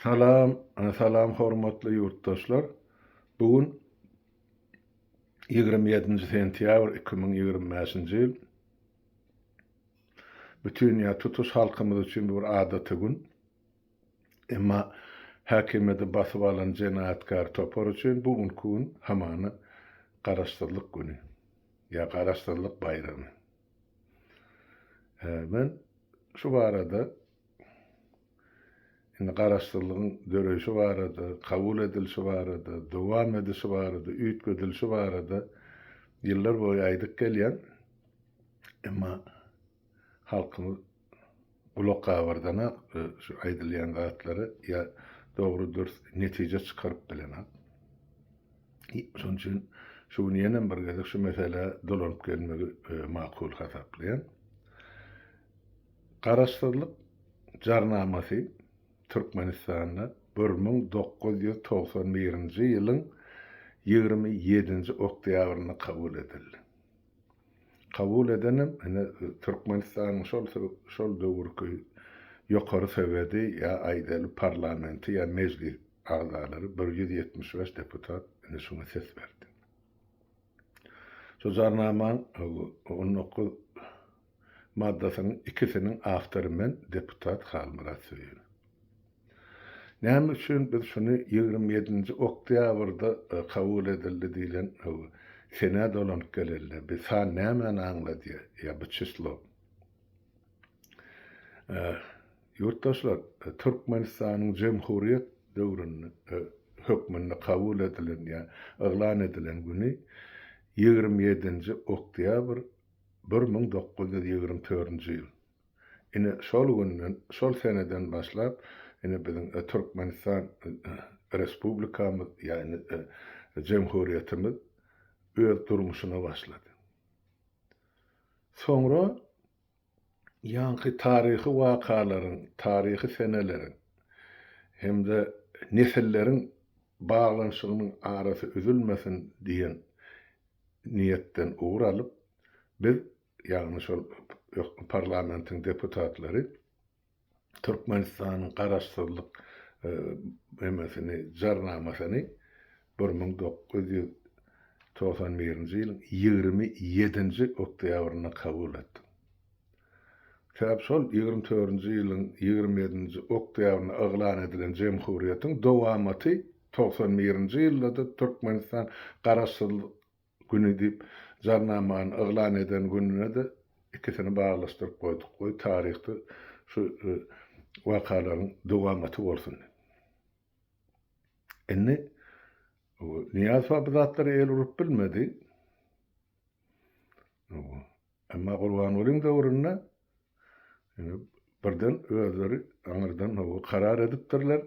Salam Salam hormatly ýurtdaşlar bu gün ýigrimi ýedinji sentýabr iki müň ýigrimi bäşinji ýyl bütin ýa tutuş halkymyz üçin bir adaty gün emma häkimiýeti basyp alan jenaýatkär topar üçin bu günki gün hamana garaşsyzlyk güni ýa garaşsyzlyk baýramy Men şu barada, indi Garaşsyzlygyň döreýşi barada, kabul edilişi barada, dowam edişi barada, üýtgedilişi barada ýyllar boýy aýdyp gelýän, emma halkymyz gulakgabyrdanok şu aýdylýan zatlary ýa dogry dürs netije çykaryp bilenok. Şonuň üçin şu gün ýenem bir gezek şu meselä dolanyp gelmegi makul hasaplaýan. Garaşsyzlyk Jarnamasy Türkmenistanda bir müň dokuz ýüz togsan birinji ýylyň ýigrimi ýedinji oktýabrynda kabul edildi. Kabul edenem ine Türkmenistanyň şol şol döwürki ýokary sowedi ýa aýdaly parlamenti ýa mejlis agzalary bir ýüz ýetmiş bäş deputat ine şuňa ses berdi. Şu jarnamanyň on dokuz maddasynyň ikisiniň awtory men, deputat Halmyrat Söýün. Näme üçin biz şuny ýigrimi ýedinji oktýabrda kabul edildi diýlen senä dolanyp geleli, bi san nämäni aňladýar, ýa bu çyslo? Ýurtdaşlar, Türkmenistanyň jemhuryýet döwründe hökmünde kabul edilen ýa yglan edilen güni ýigrimi ýedinji oktýabr Bir müň dokuz ýüz ýigrimi törünji ýyl. Ine, şol günden, şol seneden başlap, ine, biziň Türkmenistan Respublikamyz, ýagny jemhurýetimiz öz durmuşyna başlady. Soňra ýaňky taryhy wakalaryň, taryhy seneleriň hem-de nesilleriň baglanyşygynyň arasy üzülmesin diýen niýetden ugur alyp, biz, ýagny şol ökde parlamentiň deputatlary Türkmenistanyň Garaşsyzlyk emesini, Jarnamasyny bir müň dokuz ýüz togsan birinji ýylyň ýigrimi ýedinji oktýabrynda kabul etdik. Sebäbi şol ýigrimi törünji ýylyň ýigrimi ýedinji oktýabrynda yglan edilen jemhuriýetiň dowamaty togsan birinji ýylda-da Türkmenistan Garaşsyzlyk güni diýip Jarnamany yglan eden gününe-de ikisini baglaşdyryp goýduk. Goý taryhda şu wakalaryň dowamaty bolsun. Indi Nyýazowa bu zatlara el urup bilmedi. Emma Gurbangulyň döwründe indi birden özleri aňyrdan howa karar edipdirler.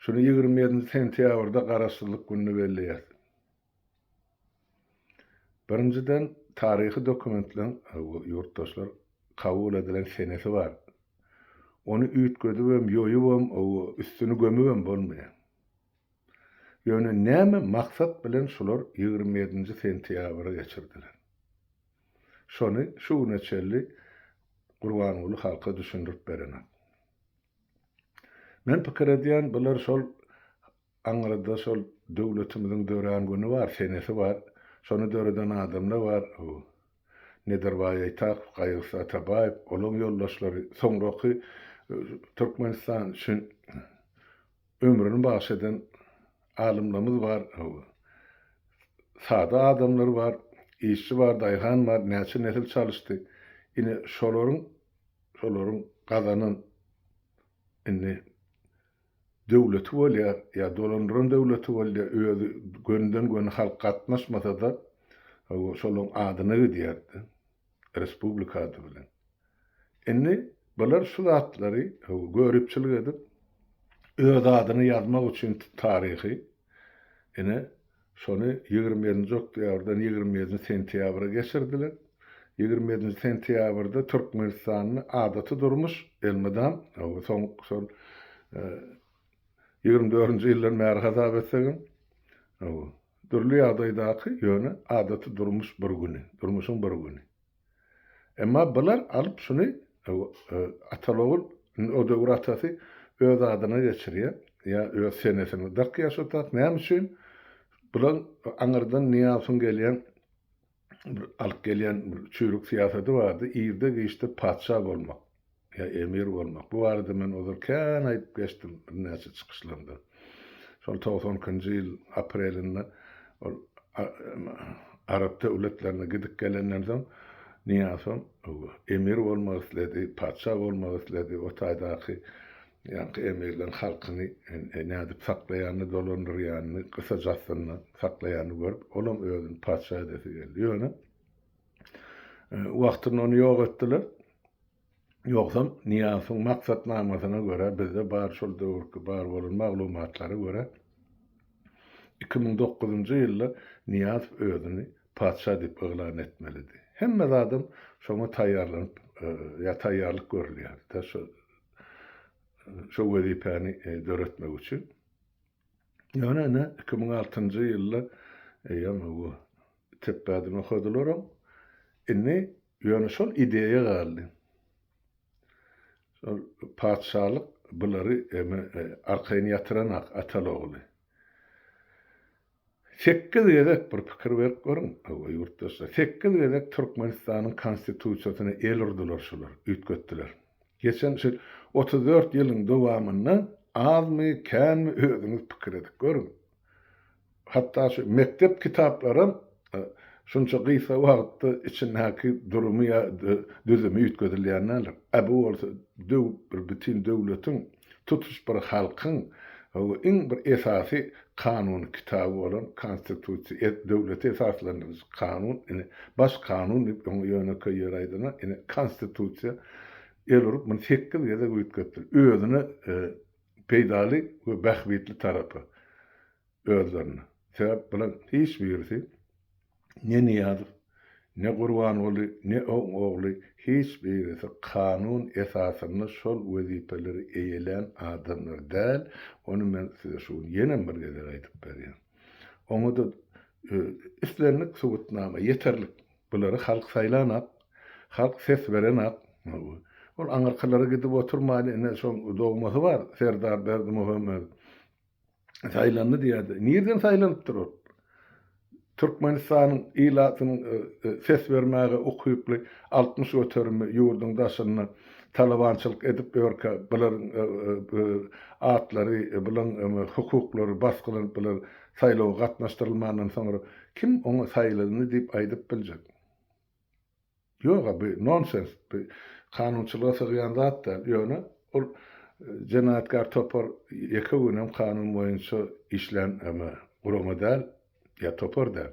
Şuny ýigrimi ýedinji sentýabrda Garaşsyzlyk gününi belleýäs. Birinjiden, taryhy dokumentleriň, howa, ýurtdaşlar, kabul edilen senesi bar. Ony üýtgedibem, ýoýubam, howa, üstüni gömübem bolmaýar. Ýöne näme maksat bilen şular ýigrimi ýedinji sentýabry geçirdiler? Şony şu güne çenli Gurbanguly halka düşündirip berenak. Men pikir edýän bular şol aňyrda şol döwletimiziň dörän güni bar, senesi bar, şony döreden adamla bar, bu Nedirbaý Aýtakow, Gaýgysy Atabaýew, olaň ýoldaşlary, soňraky Türkmenistan şun Ömrüni bagş eden alymlarymyz bar, sada adamlar bar, işçi bar, daýhan bar, näçe nesil çalyşdy. Ine, şolaryň, şolaryň gazanan indi döwleti bolýar, ýa dolandyran döwleti bolýar, özi gönden-göni halk gatnaşmasa-da, hawa, şolaryň adyna gidýär-de. Respublika ady bilen. Indi bular şu zatlary göripçilik edip, öz adyny ýazmak üçin taryhy, ine, şony ýigrimi ýedinji oktýabrdan ýigrimi ýedinji sentýabra geçirdiler. Ýigrimi ýedinji sentýabrda Türkmenistanda adaty durmuş elmydam, soň şol ýigrimi dördünji ýyldan bäri hasap etsegem, Dürli ýagdaýdaky, ýöne adaty durmuş bir güni, durmuşyň bir güni. Emma bular alyp şuny atal-ogul, indi o döwür atasy öz adyna geçirýär, ýa öz senesine dakýar şo tat, näme üçin? Bulaň aňyrdan Nyýazowyň gelýän bir alyp gelýän bir çüýrük syýasaty bardy, irde-giçde patyşa bolmak ýa emir bolmak. Bu barada men ozal kän aýdyp geçdim birnäçe çykyşlarymda. Şol togsan ikinji ýyl aprelinde ol arap döwletlerine gidip gelenden soň Nyýazow emir bolmak isledi, patyşa bolmak isledi, o taýdaky Ýaňky emirler halkyny nädip saklaýanyny, dolandyrýanyny, gysajasyna saklaýanyny görüp, olam özüni patyşa edesi geldi. Ýöne wagtynda ony ýok etdiler. Ýogsam, Nyýasowyň maksatnamasyna görä, bizde bar şol döwürki bar bolan maglumatlara görä, iki müň dokuzynjy ýylda Nyýazow özüni patyşa diýip yglan etmelidi. Hemme zadam şoňa taýýarlanyp ýa taýýarlyk görülýärdi-dä. şol wezipäni döretmek üçin. Ýöne ine 2006-njy ýylda eýýäm bu tepbäden okadylaram. Indi ýöne şol ideýa galdy. Şol patyşalyk bulary eme arkaýyn ýatyranak atal-ogly. Sekiz gezek, bir pikir berip görüň, hawa, ýurtdaşlar, sekiz gezek Türkmenistanyň Konstitusiýasyna el urdular şular, üýtgetdiler. Geçen şu otuz dört ýylyň dowamynda azmy, känmi özüňiz pikir edip görüň. Hatda şu mekdep kitaplaram şunça gysga wagtda içindäki durumy ýa-da düzümi üýtgedilýän däldir. A bu bolsa döw, bir bütin döwletiň tutuş bir halkyň iň bir esasy kanun kitaby bolan Konstitusiýa, e döwleti esaslandyryjy kanun, ine, baş kanun diýip öňe ýönekeý ýöri aýdanda, ine, Konstitusiýa el urup, muny sekiz gezek üýtgetdiler. Özüne peýdaly we bähbitli tarapy özlerine. Sebäp bular hiç birisi ne Nyýazow, ne Gurbanguly, ne oň ogly, hiç birisi kanun esasynda şol wezipeleri eýelän adamlar däl, ony men size şu gün ýenem bir gezek aýdyp berýän. Oňa-da islendik subutnama ýeterlik. Bulary halk saýlanak, halk ses berenak. Ol aňyrkylara gidip oturmaýly, ine, şoň dogmasy bar, Serdar Berdimuhamedow. saýlandy diýýärdi. Nireden saýlanypdyr ol? Türkmenistanyň ilatynyň e, e, ses bermäge ukyply altmyş göterimi ýurduň daşynda talabançylyk edip ýörkä, bularyň e, atlary, bularyň hukuklary basgylanyp, bular saýlawa gatnaşdyrylmandan soňra kim oňa saýlandy diýip aýdyp biljek? Ýog-a, bu nonsens, bu kanunçylyga sygýan zat däl. Ýöne ol jenaýatkär topar ýeke gün hem kanun boýunça işlän eme, gurama däl ýa topar däl.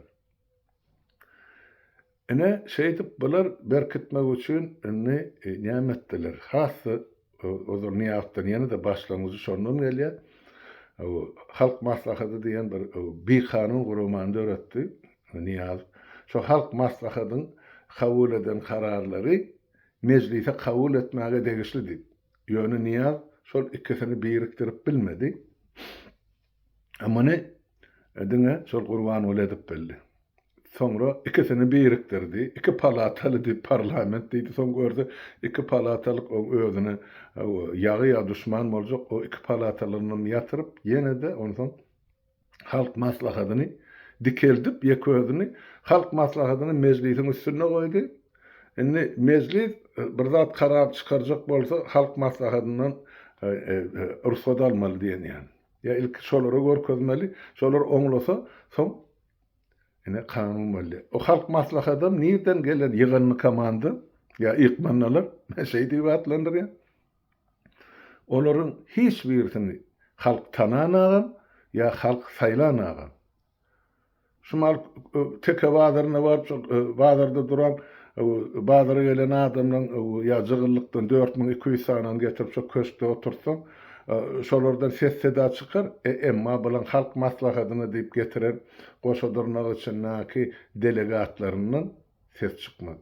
Ine, şeýdip bular berkitmek üçin indi näme etdiler? Has-da Ozal Nyýazdan ýene-de başlangyjy şondan gelýär. Halk Maslahady diýen bir bikanun guramany döretdi Nyýaz. Şo Halk Maslahadyň kabul eden kararlary Mejlise kabul etmäge degişli diýip. Ýöne Nyýaz şol ikisini birikdirip bilmedi. A muny diňe şol Gurbanguly edip bildi. Soňra ikisini birikdirdi. Iki palataly diýip parlament diýdi. Soň gördi, iki palatalyk oň özüne ýagy ýa duşman boljak. O iki palatalyny ýatyryp, ýene-de onsoň Halk Maslahatyny dikeldip, ýeke özüni Halk Maslahatyny Mejlisiň üstünde goýdy. Indi Mejlis bir zat karar çykarjak bolsa, Halk Maslahatyndan rugsat almaly diýen ýaly. Ýa ilki şolara görkezmeli, şolar oňlasa, soň ine kanun bolýar. O halk maslahatam nirden gelen ýygandy komanda, ýa ykmannalar, men şeý diýip atlandyrýan. Olaryň hiç birisini halk tananagam, ýa halk saýlanagam. Şumal teke bazaryna baryp, şol bazarda duran, bazara gelen adamlaryň ýa jygyllykdan dört müň iki ýüz sanyny getirip şo köşkde oturtsaň, şolardan ses-seda çykar, emma bulaň halk maslahatyna diýip getiren goşa dyrnak içindäki delegatlaryndan ses çykmaz.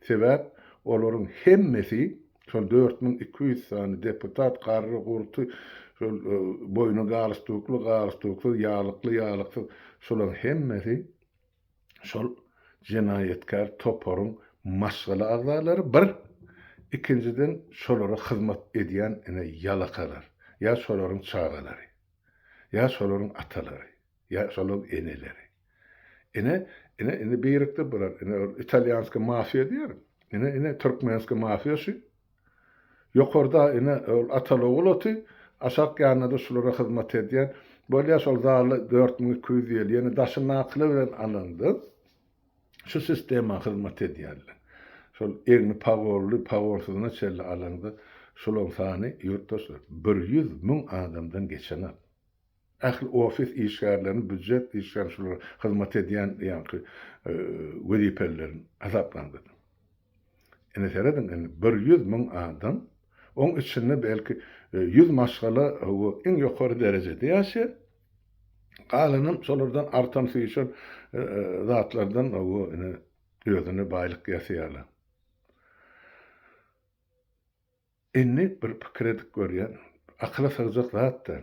Sebäp olaryň hemmesi, şol dört müň iki ýüz sany deputat garry-gurty, şol boýny galstukly, galstuksyz, ýalykly, ýalyksyz, şolaryň hemmesi şol jenaýatkär toparyň maşgala agzalary, bir, ikinjiden şolara hyzmat edýän ine ýalakalar, ýa şolaryň çagalary, ýa şolaryň atalary, ýa şolaryň eneleri. Ine, ine, indi birikdi bular. Ine, ol italýanskiý mafiýa diýer. Ine, ine, türkmenskiý mafiýa şu. Ýokarda, ine, ol Ataly-ogul oty, aşak ýanynda-da şulara hyzmat edýän. Bolýa, şol zala dört müň iki ýüz ýyl, ýene daşyndakylar bilen alaňda şu sistema hyzmat edýärler. Şol egni pagolly, pagolsyzyna çenli alaňda şolaryň sany, ýurtdaşlar, bir ýüz müň adamdan geçenok. Ähli ofis işgärlerini býujet işgärini şular hyzmat edýän ýaňky wezipelileriň hasaplandyryň. Indi serediň indi bir ýüz müň adam oň içinde belki ýüz maşgala hawa iň ýokary derejede ýaşaýar. Galanam şolardan artan süýşen zatlardan hawa ine özüne baýlyk ýasaýarlar. Indi bir pikir edip görýän, akyla sygjak zat-da.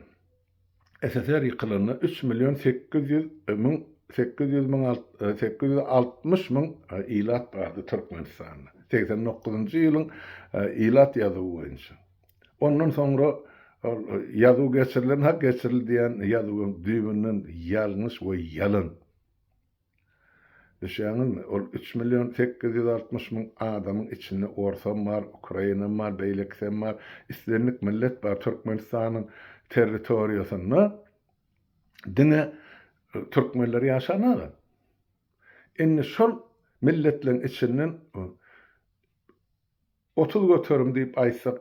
SSR ýykylanda üç million sekiz ýüz müň, sekiz ýüz müň, sekiz ýüz altmyş müň ilat bardy Türkmenistanda. Segsen dokuzynjy ýylyň ilat ýazuwy boýunça. Ondan soňra ol ýazuw geçirilen, ha geçirildi diýen ýazuw hem düýbünden ýalňyş we ýalan. Düşýäňizmi, ol üç million sekiz ýüz altmyş müň adamyň içinde orsam bar, ukrainam bar, beýlekisem bar, islendik millet bar, Türkmenistanyň territoriýasynda diňe türkmenler ýaşan aga. Indi şol milletleriň içinden Otuz göterim diýip aýtsak,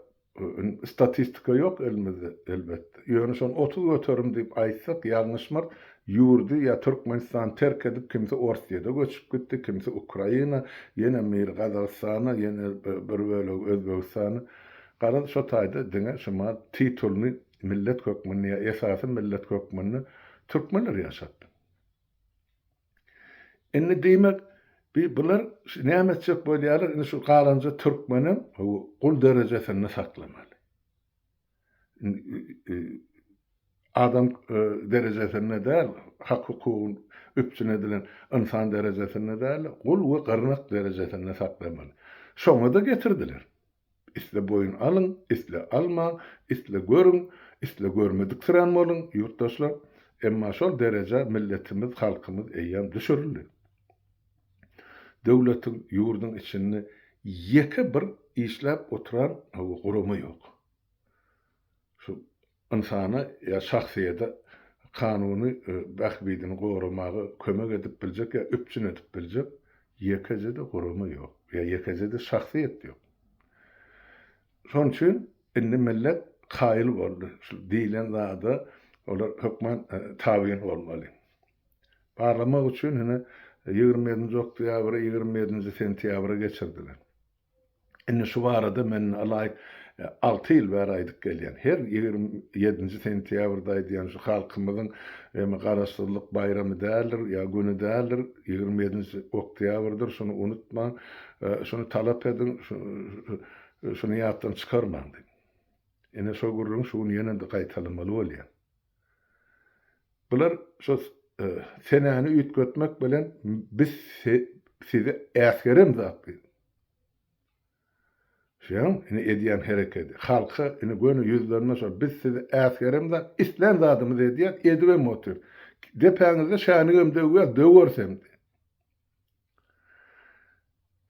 statistika ýok elimizde, elbetde. Ýöne şony otuz göterim diýip aýtsak, ýalňyşmar, ýurdy ýa Türkmenistany terk edip, kimsi Orsýede göçüp gitdi, kimsi Ukraina, ýene biri Gazagystana, ýene bir bölegi Özbegistana. Garaz, şo taýda diňe şumal titulny millet hökmünde ýa esasy millet hökmünde türkmenler ýaşapdy. Indi diýmek, bi bular näme etjek bolýarlar, indi şu galanja türkmenem bu gul derejesinde saklamaly. Adam derejesinde däl, hak-hukugyň üpjün edilen ynsan derejesinde däl-de, gul we gyrnak derejesinde saklamaly. Şoňa-da getirdiler. Isle boýun alyň, isle almaň, isle görüň, isle görmediksirän boluň, ýurtdaşlar, emma şol derejä milletimiz, halkymyz eýýäm düşürildi. Döwletiň, ýurduň içinde ýeke bir işläp oturan gurama ýok. Şu ynsana ýa şahsyýete kanuny bähbidini goramaga kömek edip biljek ýa üpjün edip biljek ýekeje-de gurama ýok ýa ýekeje-de şahsyýet ýok. Şonuň üçin indi millet kaýyl boldy, şu diýlen zada olar hökman tabyn bolmaly. Barlamak üçin ýene ýigrimi ýedinji oktýabry ýigrimi ýedinji sentýabra geçirdiler. Indi şu barada men alaý alty ýyl bäri aýdyp gelýän. Her ýigrimi ýedinji sentýabrda aýdýan şu halkymyzyň emi Garaşsyzlyk baýramy däldir ýa güni däldir, ýigrimi ýedinji oktýabrdyr, şuny unutmaň, şuny talap ediň, şuny ýatdan çykarmaň diýip. Ine şo gürrüňi şu gün ýene-de gaýtalamaly bolýan. Bular şo senäni üýtgetmek bilen biz size äsgerem zat diýdi. Şeýan indi edýän herekedi. Halka indi göni ýüzlerinde şo biz size äsgerem zat, islän zadymyzy edýäs, edibem otyr. Depäňizde şänigem döwýäs, döweris hem diýdi.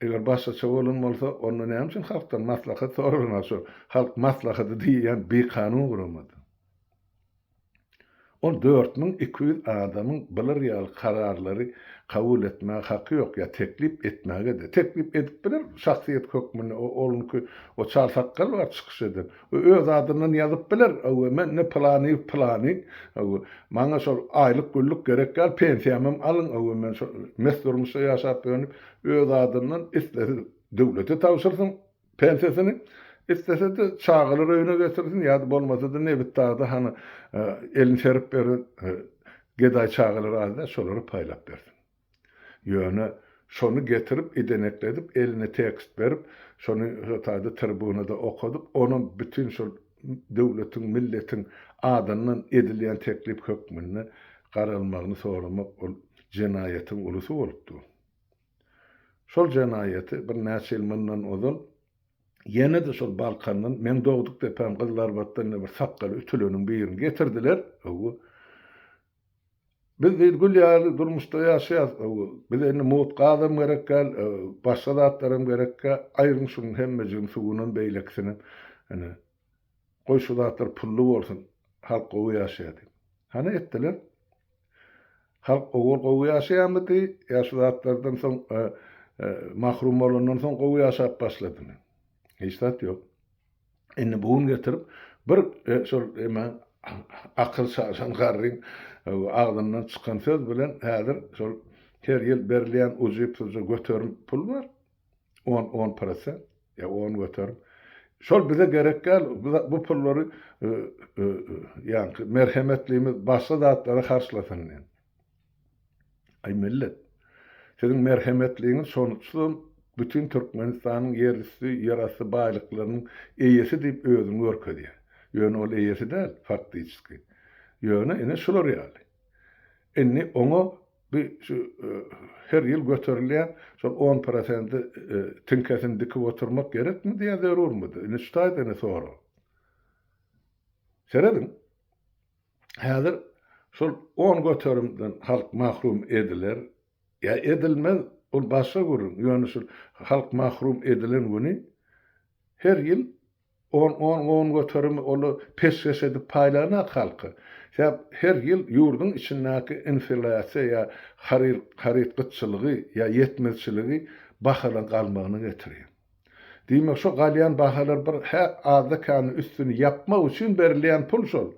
Eger başgaça bolan bolsa, onda näme üçin halkdan maslahat soralmaly şu halk maslahaty diýýän bikanun guramada? Ol dört müň iki ýüz adamyň bular ýaly kararlary kabul etmäge haky ýok ýa teklip etmäge-de. Teklip edip biler şahsyýet hökmünde, o onuňky o çal sakgal bar çykyş eden. Bu öz adyndan ýazyp biler, öwü, men ne pylanyýew pylany, öwü, maňa şol aýlyk-güllük gerek däl, pensiýamam alyň, öwü, men şol mes durmuşda ýaşap-önüp, öz adyndan islese döwlete tabşyrsyn pensiýasyny, islese-de çagalar öýüne getirsin ýa-da bolmasa-da nebitdagda hany elini serip beren gedaý çagalar az däl, şolara paýlap bersin. Ýöne şony getirip idenekledip eline tekst berip şony şotady tribunada okadyp onam bütin şol döwletiň milletiň adyndan edilýän teklip hökmünde garalmagyny soramak ol jenaýatyň ulusy bolup dur. Şol jenaýaty bir näçe ýyl mundan ozal ýene-de şol Balkandan meň dogduk depäm Gyzylarbatdan ýene bir sakgaly ütüleniň birini getirdiler. Howwa. Biz diýdi gül ýaly durmuşda ýaşaýas bize indi mugt gazam gerek däl başga zatlaram gerek däl aýryň şunuň hemmejigini suwunam beýlekisinem ine goý şu zatlar pully bolsun halk gowy ýaşaýa diýip hany etdiler halk ogul gowy ýaşaýamydy ýa şu zatlardan soň mahrum bolandan soň gowy ýaşap başladymy hiç zat ýok. Indi bu gün getirip bir şol eme akyl şaşan garryň agzyndan çykan söz bilen häzir şol her ýyl berilýän ujypsyzja göterim pul bar, on on prosent, ýa on göterim. Şol bize gerek däl, bu pullary ýaňky merhemetlimiz başga zatlara harçlasyn diýen. Aý millet, siziň merhemetligiňiz şonutsyzam bütin Türkmenistanyň ýerüsti, ýerasty baýlyklarynyň eýesi diýip özüni görkezýär. Ýöne ol eýesi däl, faktiçeski. Ýöne ine şular ýaly. Indi oňa bi şu her ýyl göterilýän şol on prosenti tiňkesini dikip oturmak gerekmidi ýa zerurmydy? Indi şu taýdan-a sorag. Serediň. Häzir şol on göterimden halk mahrum ediler ýa edilmez, ol başga gürrüň, ýöne şu halk mahrum edilen güni her ýyl on, on, on göterimi olar peşgeş edip paýlanak halka. Sebäp her ýyl ýurduň içindäki inflýasiýa ýa haryt gytçylygy ýa ýetmezçiligi bahalan galmagyna getirýär. Diýmek şo galýan bahalar bir hä azda kände üstüni ýapmak üçin berilýän pul şol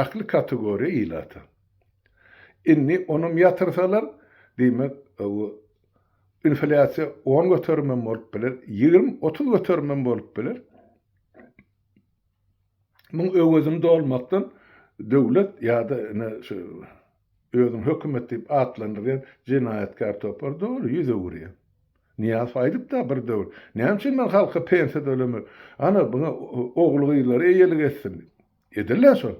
ähli kategoriýa ilata. Indi onam ýatyrsalar diýmek bu inflýasiýa on göterim hem bolup biler, ýigrimi, otuz göterim hem bolup biler. Muň öwezini dolmakdan döwlet ýa-da ine şu Özüni hökümet diýip atlandyrýan jenaýatkär topar doly ýüz öwürýär. Nyýazow aýdypda bir döwür, Näme üçin men halka pensiýa tölemek? Ana, muňa ogul-gyzlary eýelik etsin diýip. Edil-dä şol.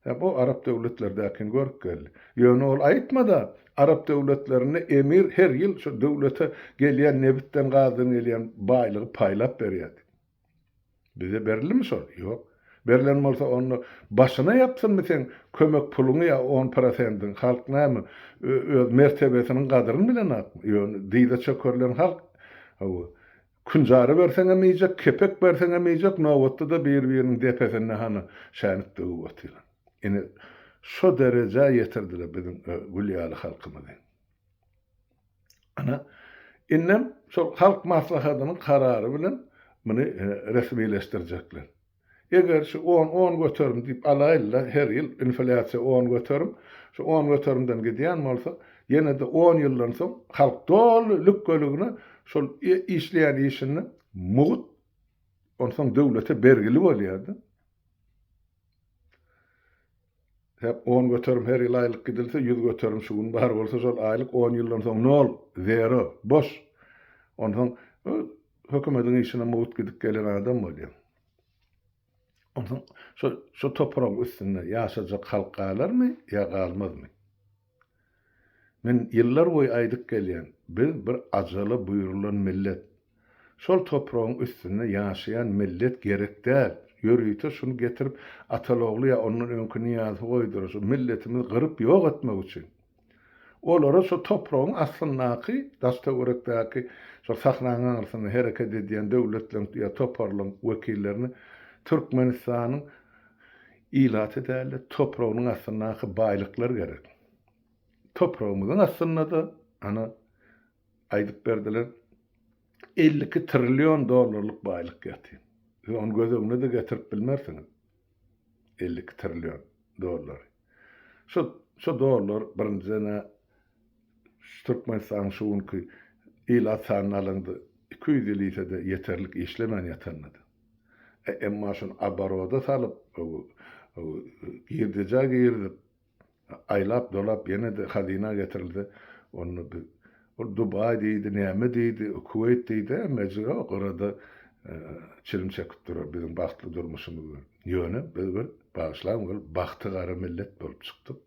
Hem o arap döwletlerdäkini görüp geldi. Ýöne ol aýtmada, arap döwletlerinde emir her ýyl şu döwlete gelýän nebitden-gazdan gelýän baýlygy paýlap berýär diýip. Bize berilimi şol? Ýok. Berlen bolsa onda başyna ýapsynmy seň kömek puluňy ýa on prosendiňi? Halk näme, öz mertebesiniň gadyryny bilenokmy? Ýöne dyza çökerilen halk. Hawa. Künjara berseň hem iýjek, kepek berseň hem iýjek, nobatda-da bir-biriniň depesinde hany şänik döwüp otyran. Ine, şo derejä ýetirdiler biziň Gülýaly halkymyzy. Ana, indem şol Halk Maslahatynyň karary bilen muny resmileşdirjekler. Eger şu on, on göterim diýip alaýyl-da, her ýyl inflýasiýa on göterim, şu on göterimden gidýän bolsa, ýene-de on ýyldan soň halk doly lükgeligine şol işleýän işinde mugt, onsoň döwlete bergili bolýar-da. Hep on göterim her ýyl aýlyk gidilse, ýüz göterim şu gün bar bolsa, şol aýlyk on ýyldan soň nol, zero, boş. Onsoň hökümediň işine mugt gidip gelen adam bolýar. Onsoň şo, şo topragyň üstünde ýaşajak halk galarmy ýa galmazmy? Men ýyllar boýy aýdyp gelýän, biz bir ajala buýrulan millet. Şol topragyň üstünde ýaşaýan millet gerek däl. Ýörite şuny getirip Atalogly ýa ondan öňki Nyýazy goýdular, şu milletimizi gyryp ýok etmek üçin. Olara şu topragyň aslyndaky daş-töwerekdäki şol sahranyň aňrysynda hereket edýän döwletleriň ýa toparlaryň wekillerini Türkmenistanyň Ilaty däl-de, topragynyň astyndaky baýlyklar gerek. Topragymyzyň astynda-da, ana, aýdyp berdiler, elli iki trillion dollarlyk baýlyk ýatyr. Siz ony göz öňüne-de getirip bilmersiňiz, elli iki trillion dollary. Şo, şo dollar, birinjiden-ä, şu Türkmenistanyň şu günki ilat sanyny alaňda, iki ýüz ýyl iýse-de ýeterlik işlemän ýatanda-da. Emma şuny oboroda salyp, girdejä girizip, aýlap-dolap ýene-de hazyna getirilse, onda biz ol Dubaý diýdi, näme diýdi, Kuweýt diýdi, emmejigi o gyrada çilim çekip durar biziň bagtly durmuşymyz bilen. Ýöne biz bir, bagyşlaň, bir bagty gara millet bolup çykdyk.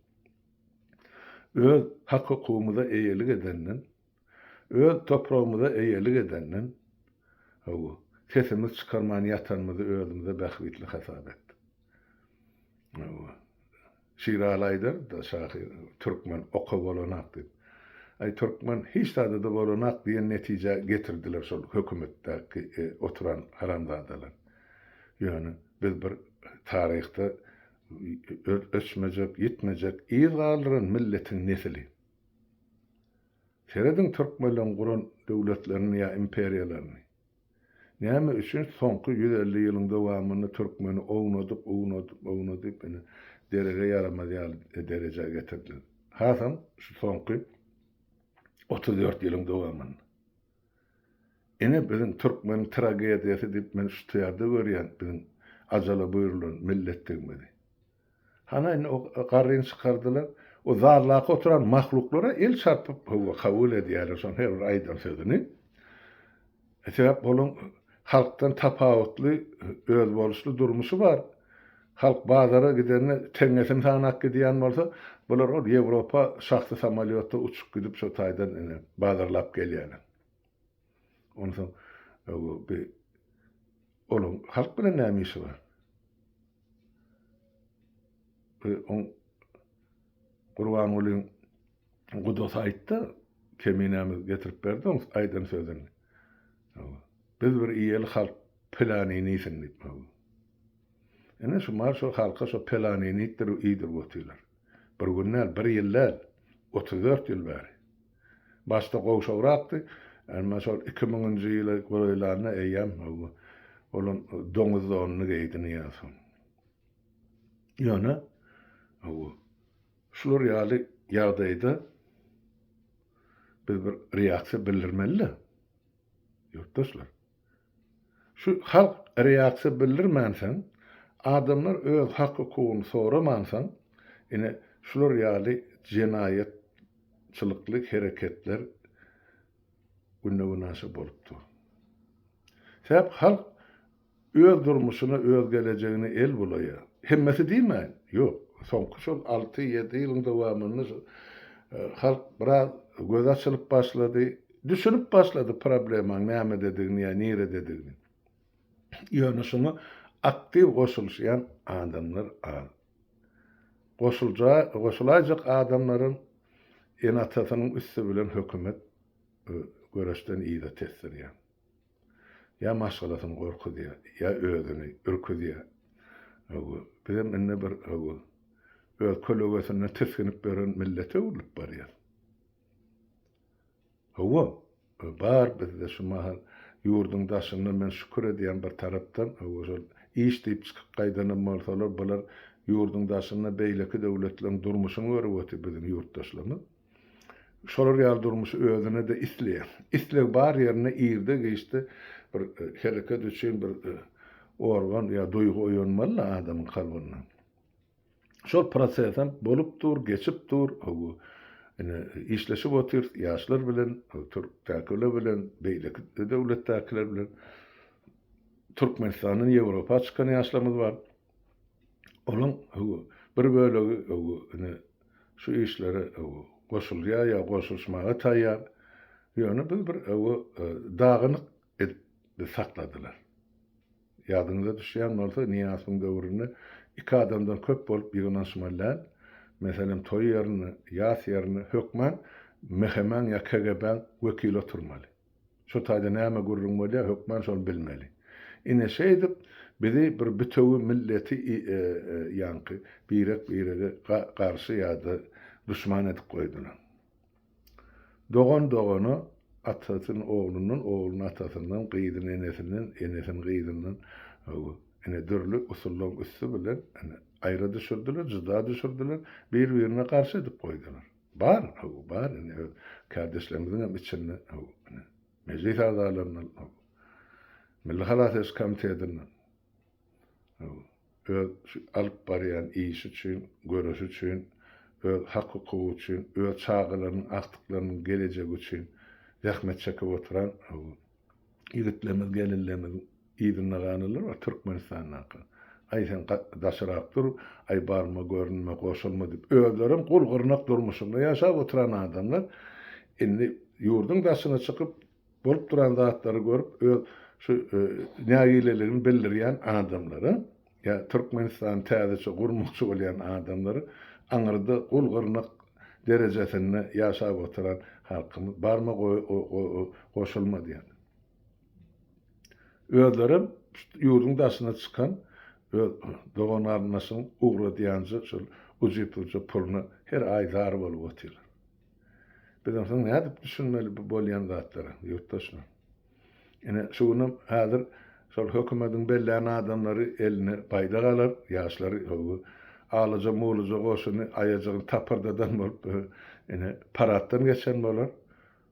Öz hak-hukugymyza eýelik edenden, Öz topragymyza eýelik edenden, hawa, sesimiz çykarman ýatanymyzy özümize bähbitli hasap etdik. Hawa, Şiraly aýdar-da şahyr, Türkmen oka bolanak diýip. Aý, türkmen hiç zada-da bolanak diýen netijä getirdiler şol hökümetdäki oturan haramzadalar. Ýöne biz bir taryhda öçmejek, ýitmejek yz galdyran milletiň nesili. Serediň türkmenleň guran döwletlerini ýa imperiýalaryny. Näme üçin soňky ýüz elli ýylyň dowamynda türkmeni ownadyp ownadyp ownadyp ine derege ýaramaz ýaly derejä getirdiler. Hasam şu soňky otuz dört ýylyň dowamynda. Ine biziň türkmeniň tragediýasy diýip men şu tyýarda görýän biziň ajala buýrulan milletdigimizi. Hany indi o garryny çykardylar. O zaldaky oturan mahluklara el çarpyp, hawa, kabul edýärler şonuň her bir aýdan sözüni. Sebäp olaň halkdan tapawutly, özboluşly durmuşy bar. Halk bazara gidende teňňesini sanap gidýän bolsa, bular ol Ýewropa şahsy samolýotda uçup gidip şo taýdan ine bazarlap gelýärler. Onsoň bi onuň halk bilen näme işi bar? Bi on Gurbangulyň gudasy aýtdy, keminämiz getirip berdi oň aýdan sözüni. Biz bir iýeli halk pelanyny iýsin diýip. Ine şu mar şu halka şu pelanyny iýdirip otylar. Bir gün däl, bir ýyl däl, otuz dört ýyl bäri. Başda gowşagrakdy, emma şol iki müňünji ýyla golaýlanda eýýäm olam doňuz donuny geýdi Nyýazow. Ýöne şular ýaly ýagdaýda biz bir reaksiýa bildirmeli-de, ýurtdaşlar. Şu halk reaksiýa bildirmänsoň, adamlar öz hak-hukugyny soramansoň, ine, şular ýaly jenaýatçylykly hereketler günde-günaşa bolup dur. Sebäp halk öz durmuşyna, öz gelejegine el bulaýar. Hemmesi diýmäýin, ýok, soňky şol alty-ýedi ýylyň dowamynda şu halk biraz gözi açylyp başlady, Düşünip başlady problemaň nämededigini ýa nirededigini. Ýöne şuňa aktiw goşulyşýan adamlar az. Goşulja goşulaýjak adamlaryň ene-atasynyň üsti bilen hökümet göreşden yza tesdirýär. Ýa maşgalasyny gorkuzýar, ýa özüni ürküzýär. Hawa, bizem indi bir hawa, öz kölegesinden tisginip ýören millete öwrülip barýar. Hawa, bar bizde şu mahal ýurduň daşynda men şükür edýän bir tarapdan, hawa şol iş diýip çykyp gaýdanam bolsalar, bular ýurduň daşynda beýleki döwletleriň durmuşyny görüp otyr biziň ýurtdaşlarymyz. Şolar ýaly durmuşy özüne-de isleýär. Isleg bar ýerinde irde-giçde bir hereket üçin bir organ ýa duýgy oýanmaly-da adamyň kalbynda. Şol proses hem bolup dur, geçip dur. Hawa, ine, işleşip otyrys ýaşlar bilen, türkdäkiler bilen, beýleki döwletdäkiler bilen. Türkmenistandan Ýewropa çykan ýaşlarymyz bar. Olaň, hawa, bir bölegi, hawa, ine, şu işlere, hawa, goşulýar ýa goşulyşmaga taýýar. Ýöne biz bir, hawa, dagynyk edip sakladylar. Ýadyňyza düşýän bolsa, Nyýazowyň döwründe iki adamdan köp bolup ýygnanyşmaly däl. Meselem, toý ýerinde, ýas ýerinde hökman MHM-iň ýa KGB-iň wekili oturmaly. Şu taýda näme gürrüň bolýar, hökman şony bilmeli. Ine, şeýdip, bizi bir bütewi milleti ýaňky birek-birege garşy ýa-da duşman edip goýdular. Dogan dogana, atasyn oglundan, oglun atasyndan, gyzyn enesinden, enesin gyzyndan, hawa, ine, dürli usullaryň üsti bilen, ine, aýra düşürdiler, juda düşürdiler, bir-birine garşy edip goýdular. Bar, hawa, bar, ine, öz kärdeşlerimiziň hem içinde, hawa, ine, mejlis agzalaryndan, hawa, Milli halas ediş komitetiniň, hawa, öz şu alyp barýan işi üçin, göreşi üçin, öz hak-hukugy üçin, öz çagalarynyň, agtyklarynyň gelejegi üçin zähmet çekip oturan ýigitlerimiz, gelinlerimiziň yzynda galanlar bar Türkmenistandaky. Aý, sen daşyrak dur, aý, barma, görünme, goşulma diýip, özlerem gul-gyrnak durmuşynda ýaşap oturan adamlar indi ýurduň daşyna çykyp, Bolup duran zatlary görüp öz şu nägileligini bildirýän adamlara ýa Türkmenistany täzeçe gurmakçy bolýan adamlara aňyrda gul gyrnak derejesinde ýaşap oturan halkymyz barma goşulma diýen. Özlerem ýurduň daşyna çykan öz dogan garyndaşyň ugradýanja şol ujypujy puluna her aý zar bolup otyrlar. Biz onsoň nädip düşünmeli bu bolýan zatlara, ýurtdaşlar? Ine, şu günem häzir şol hökümediň bellän adamlary eline baýdak alar, ýaşlary howwy alaja-mulaja goşuny aýajygyny tapyrdadan bolup, ine, paraddan geçen bolar.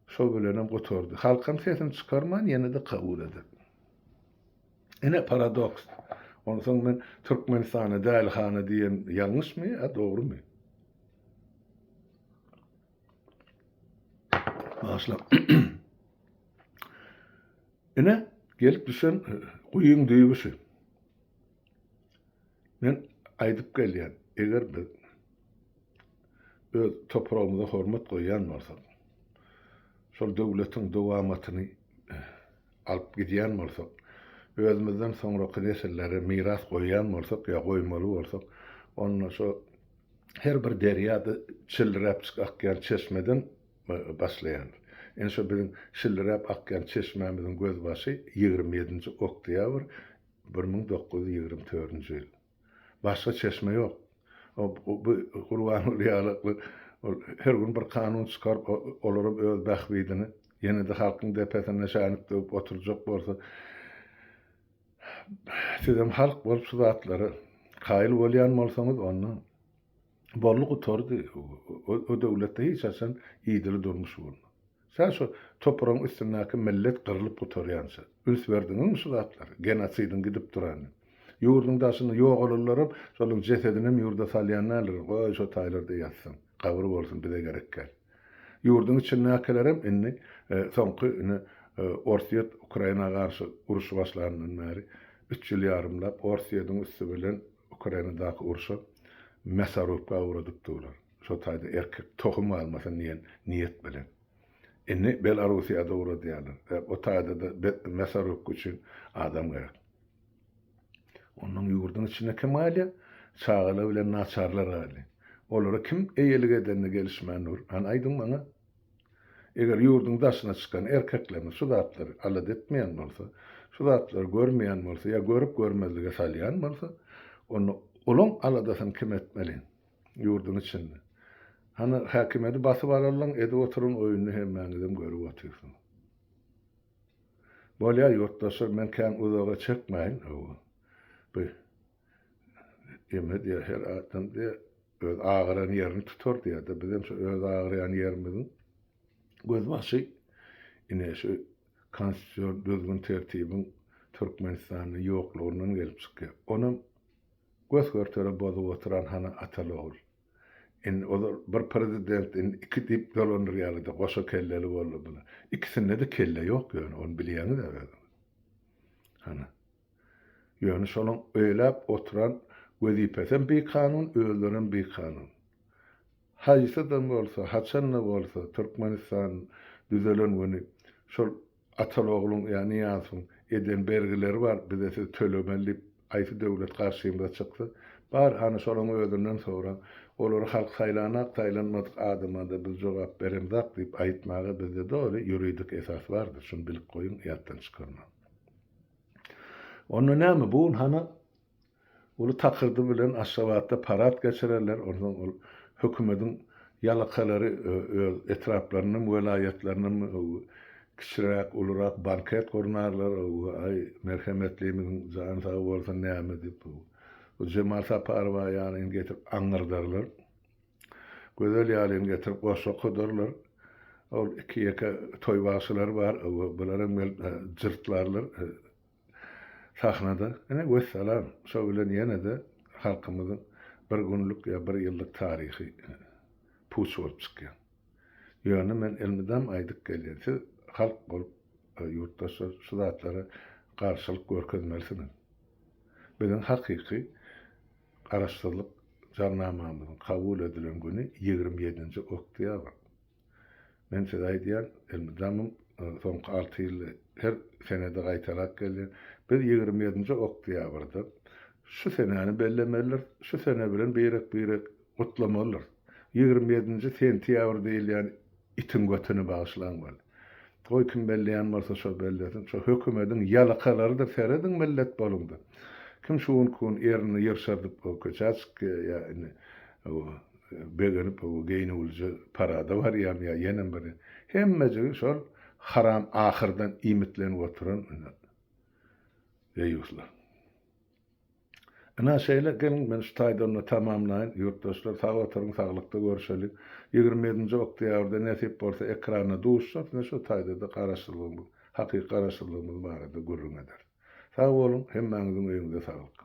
Şo bilenem gutardy. Halkam sesini çykarman ýene-de kabul eder. Ine, paradoks. Onsoň men Türkmenistana dälihana diýen ýalňyşmy ýa dogrumy? Başla. Ine gelip düşen e, guýyň düýbi şu. Men aýdyp gelýän, eger biz öz topragymyza hormat goýýan bolsak, şol döwletiň dowamatyny e, alyp gidýän bolsak, özümizden soňraky nesillere miras goýýan bolsak ýa goýmaly bolsak, onda şu her bir derýa-da çilliräpjik akýan çeşmeden başlaýandyr. Ine şo biziň çilliräp akýan çeşmämiziň gözbaşy ýigrimi ýedinji oktýabr bir müň dokuz ýüz ýigrimi törünji ýyl. Başga çeşme ýok. Bu Gurbanguly ýalykly ol her gün bir kanun çykaryp, olaram öz bähbidine, ýene-de halkyň depesine şänik döwüp oturjak bolsa, Sizem halk bolup şu zatlara kaýyl bolýan bolsaňyz onda boldy gutardy o döwletde hiç haçan idili durmuş bolmaz. Sen şu topragyň üstündäki millet gyrlyp gutarýança üns berdiňizmi şu zatlara genosidiň gidip durany. Ýurduň daşynda ýogalanlaram şolaryň jesedinem ýurda salýan däldir goý şo taýlarda ýatsyn gabyry bolsun bize gerekgäl. Ýurduň içindäkilerem indi soňky ine Orsýet Ukraina garşy urşy başlandan bäri üç ýyl ýarymlap Orsýediň üsti bilen Ukrainadaky urşa mäsorubka ugradyp durlar. Şo taýda erkek tohum galmasyn diýen niýet bilen. Indi Belarussiýada ugradýarlar. O taýda-da mäsorubka üçin adam gerek. Ondan ýurduň içinde kim galýar? Çagalar bilen naçarlar galýar. Olara kim eýelik edende gelişmän dur? Hany aýdyň maňa? Eger ýurduň daşyna çykan erkeklerimiz şu zatlary alada etmeýän bolsa, şu zatlary görmeýän bolsa ýa görüp görmezlige salýan bolsa, onda olaň aladasyny kim etmeli? Ýurduň içinde. Hany häkimiýeti basyp alalyň, edip oturan oýuny hemmäňizem görüp otyrsyňyz. Bolýa ýurtdaşlar men kän uzaga çekmäýin hawa bu eme diýä her adam diýä öz agyran ýerini tutar diýädä bizem şu öz agyrýan ýerimiziň göz başy ine şu konstitusion düzgün tertibiň Türkmenistanda ýoklugyndan gelip çykýar onam gös görtere bozup oturan hany ataly ogul. Indi ol bir prezident indi iki diýip dolandyrýarlada goşa kelleli boldy bular. Ikisindede kelle ýok ýöne ony bilýäňizä özüňiz. Hany. Ýöne şonuň öýläp oturan wezipesem bikanun özlerem bikanun. Haýsydan bolsa haçanda bolsa Türkmenistan düzelen güni şol Atalogluň ýa Nyýazowyň eden bergileri bar, bize siz tölemeli diýip haýsy döwlet garşymyza çyksa, bar, hany şolaň özünden soraň. Olary halk saýlanak, saýlanmadyk adama-da biz jogap beremzak diýip aýtmaga bizde doly ýuridik esas bardyr, şuny bilip goýuň, ýatdan çykarmaň. Onda näme, bu gün hana Uly takyrdy bilen Aşgabatda parad geçirerler, onsoň ol hökümediň ýalakalary öz etraplarynam, welaýatlarynam kiçiräk, ulurak banket gurnarlar, aý, merhemetlimiziň jany sag bolsun näme diýip, bu Jemal Saparowa ýalyn getirip aňňyrdarlar. Gözel ýalyn getirip goşgy okudarlar. Ol iki-ýeke toý bagşylary bar, bular hem gelip jyrtlarlar. sahnada ine wessalam şo bilen ýenede halkymyzyň bir günlük ýa bir ýyllyk taryhy puç bolup çykýar. Ýöne men elmydam aýdyp gelýän siz halk bolup ýurtdaşlar şu zatlara garşylyk görkezmelisiňiz. Biziň hakyky Garaşsyzlyk Jarnamamyzyň kabul edilen güni ýigrimi ýedinji oktýabr. Men size aýdýan, elmydamym soňky alty ýylda her senede gaýtalap gelýän, biz ýigrimi ýedinji oktýabrda şu senäni bellemelidiris, şu sene bilen birek-birek gutlamalydyrys. Ýigrimi ýedinji sentýabr diýilýän itiň götüni bagyşlaň weli. Goý kim belleýän bolsa şo bellesin, şo hökümediň ýalakalarydyr serediň millet boluňda. Kim şu gün kun erini ýyrşardyp köçä çykýa ýa indi Begenip geýnüwlije parada barýan ýa ýenem bir hemmejigi şol haram ahyrdan iýmitlenip oturan ine deýýuslar. Ine şeýle geliň men şu taýdan-da tamamlaýyn. Ýurtdaşlar sag oturyň saglykda görüşeli. Ýigrimi ýedinji oktýabrda nesip bolsa ekranda duşjak ine şu taýda-da garaşsyzlygymyz hakyky garaşsyzlygymyz barada gürrüň ederis. Sag boluň hemmäňiziň öýüňize saglyk.